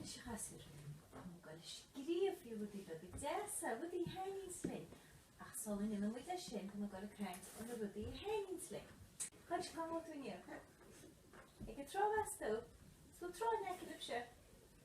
Is ag casadh ar an mbungáil a scríobfaí rudaí beaga deasa, rudaí a thaitníos linn, ach sula ndéanaimid é sin, tá na gaill ag caint ó na rudaí a thaitníos linn. Cad is cuma tú inniu? Ag an tráth as tú? Is bhfuil tráth in aice libhse?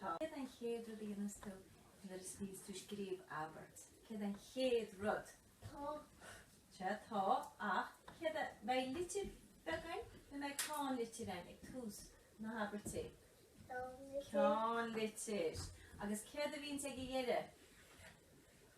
Céard an chéad rud a dhéanas tú nuair a bhíos tú ag scríobh abairt? Céard an chéad rud? Tá. Sea, tá ach céard a... Beidh litir beag ann nó beidh ceannlitir ann ag tús na habairte? Ceannlitir. Agus céard a bhíonns ag an deireadh?